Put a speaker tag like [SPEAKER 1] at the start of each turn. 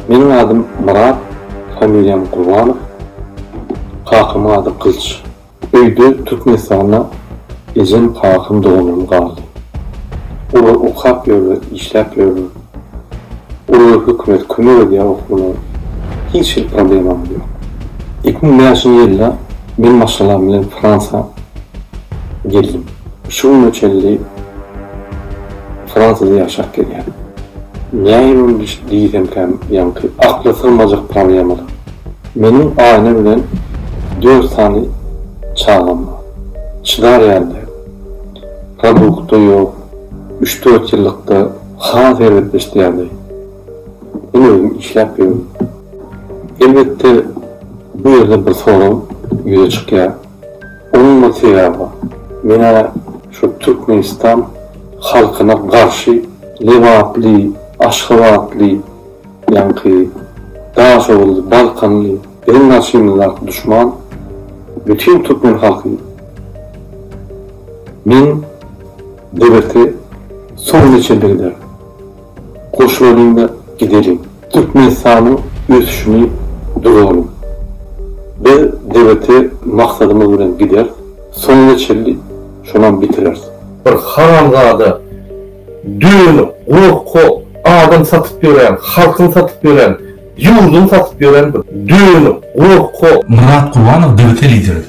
[SPEAKER 1] Meniň adym Myrat, familiýam Gurbanow, kakamyň ady Gylyç. Öýde Türkmenistanda ejem, kakam, doganlarym galdy. Olar okap ýörler, işläp ýörler. Olara hökümet kömek edýär okuwyna. Hiç hili problemamyz ýok. Iki müň bäşinji ýylda men maşgalam bilen Fransiýa geldim. Şu güne çenli. Fransiýada ýaşap gelýän. Näýmem diş diýsemkäm ýaňky akla sygmajak problemalar. Meniň Aýna bilen dört sany çagam bar. Çydar ýaly däl. Produkt-da ýok. Üç-dört ýyllykda has erbetleşdi ýagdaý. Men özüm işläp ýörün. Elbetde, bu ýerde bir sorag ýüze çykýar. Umuman sebäbi menä şu Türkmenistan halkyna garşy Lebaply, Aşgabatly, ýaňky Daşoguzly, Balkanly biziň garşymyzdaky duşman bütin Türkmen halky. Men debirte soňuna çenli giderin. Goşulalyň-da gideliň. Türkmenistanyň ösüşini duralyň. Biz debete maksadymyz bilen gideris, soňuna çenli şonam bitireris. Bir haramzada dönük gorkak adam satyp ýören halkyny satyp ýören ýurdyny satyp
[SPEAKER 2] ýören
[SPEAKER 1] bir dönük gorkak. Myrat Kurbanow
[SPEAKER 2] debete
[SPEAKER 1] lideridir.